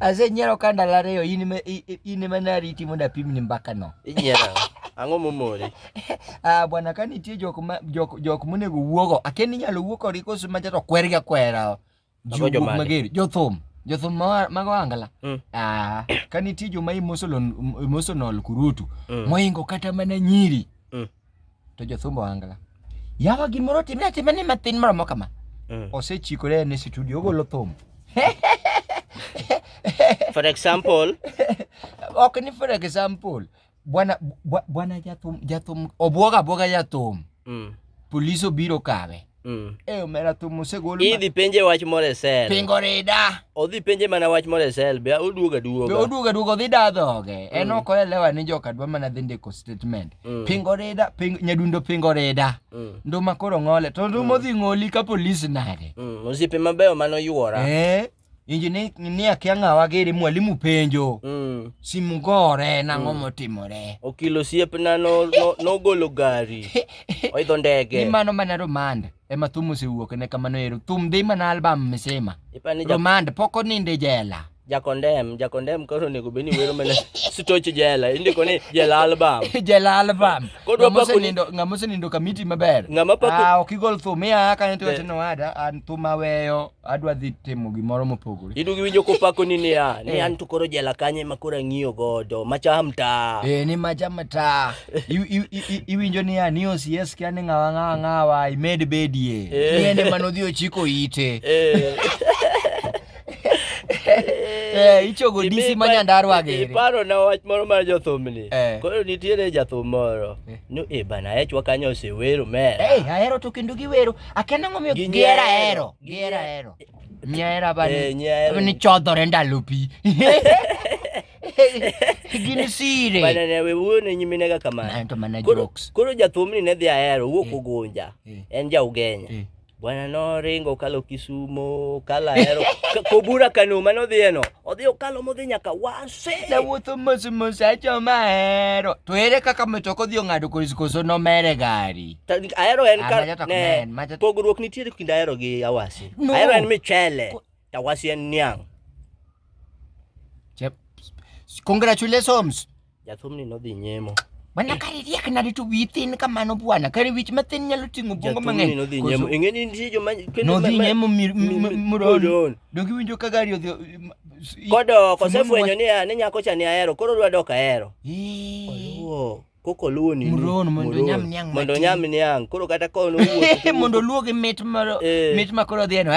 Ase nyiero ka ndalo ariyo in ema nariti mondo apimni mbaka no. Inyiero. Ang'o momori? Ah bwana ka nitie jok ma jok jok monego wuogo. Akia ni inyalo wuo kodgi koso ma jato kwergi akwera. Jok mager, jothum. Jothum ma mago angala. Mm. Ah ka nitie joma emotional emotional kurutu mm. moingo kata mana nyiri. Mm. to jothumbo angla yawa gimoro otimre atima ni mathin maromo kama mm. osechikore ne studio ogolo thum for example ok ni for example bwana bwana jathum jathum obwoga abwoga jathum mm. polis obiro kawe Mm. Eh, omera thum osegol. Idhi penje wach moro e sel. Pingo rida. Odhi penje mana wach moro e sel, be oduoga duoga. Be oduoga duoga odhi da dhoge. Mm. En ok oelewa ni joka dwa mana dhi ndiko statement. Mm. Pingo rida, ping, nyadundo pingo rida. Mm. Nduma koro ng'ole. To nduma mm. odhi ng'oli ka polis nade. Mm. Osiepe mabeyo mano yuora. Eh. injinia kia ng'awa giri mwalimu penjo mm. simu gore nang'o mm. motimore okil osiepna nogolo no, no gari oidho ndege ni mano mana romand ema thum osewuok ne kamano ero thum dhi mana album misima romand pok oninde jela jakondem jakondem koro onego bed ni wero mana stoch jela indiko ni jela album jela album kodwa pako nindo ng'ama osenindo kamiti maber ng'ama pako ah ok igol thum ya kanyo tiwacho ni wada an thum aweyo adwa dhi timo gimoro mopogore. Idugi winjo kopako ni niya, ni eh. an to koro jela kanye ma koro ang'iyo godo, macha mta. Eh, ni macha mta. Iwinjo niya, ni OCS kia ni ng'awa ng'awa ng'awa, imed bedie. Eh. Ni ene manodhi ochiko ite. Eh. Eh, ichogo disi ma nyandarwa gere iparo na wach moro mar jothumni eh. koro nitiere jathum moro eh. ni e bana echwa kanyo osewero mera eh ahero to kendo giwero Akena ngomiyo Gi gihera nyaero. hero. Gihera hero. Nyaera bani. Eh, nyaero. Bani chodhore ndalo pi. Gin sire. Bana ne we wuoyo ne nyimine ga kamano. Nanto mana Koro jokes. koro jathumni ne dhi ahero wuok Ugunja. Eh. En ja Ugenya. Eh. Bwana noringo kalo Kisumo, kala ahero. Ka- Kobura Kano mane odhiyeno. Odhi okalo modhi nyaka Wase. Nawuotho mos mos achoma hero. To ere kaka mtoka odhi ong'ado koso koso nomere gari? ahero en ah, ka ne pogruok nitiere kind ahero gi awasi no. ahero en michele to awasi en niang' congratulations jathumni nodhi nyemo Bwana kari riek na ritu within kamano bwana kari wich mathin nyalo ting'o bungo mang'eny. Nodhi nyemo. Ing'eni nitie joma kendo nodhi nyemo muron. Dogi winjo ka gari odhi kodo kosefwenyo ni ne nyako cha ni ahero koro dwa dok ahero. Ee. koko luwo nini muron mondo nyam niang mondo nyam niang koro kata ko no wuotho mondo luwo gi mit moro eh. mit ma koro dhieno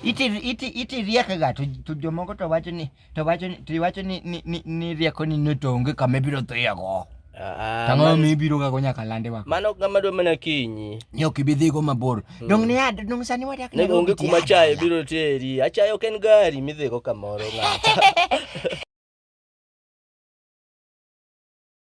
iti iti iti riek ga to to jomoko to wacho ni to wacho ni to wacho ni ni ni rieko ni notonge kama ibiro dhiya go ah, ah, Tang'o mi ibiro ga go nyaka lande wa. Mano kama dwa mana kinyi. Ni ok ibi dhigo mabor. Hmm. Dong ne ad, dong sani wadak ne onge kuma chaye biro teri. Achaye ok en gari midhigo kamoro ng'ata.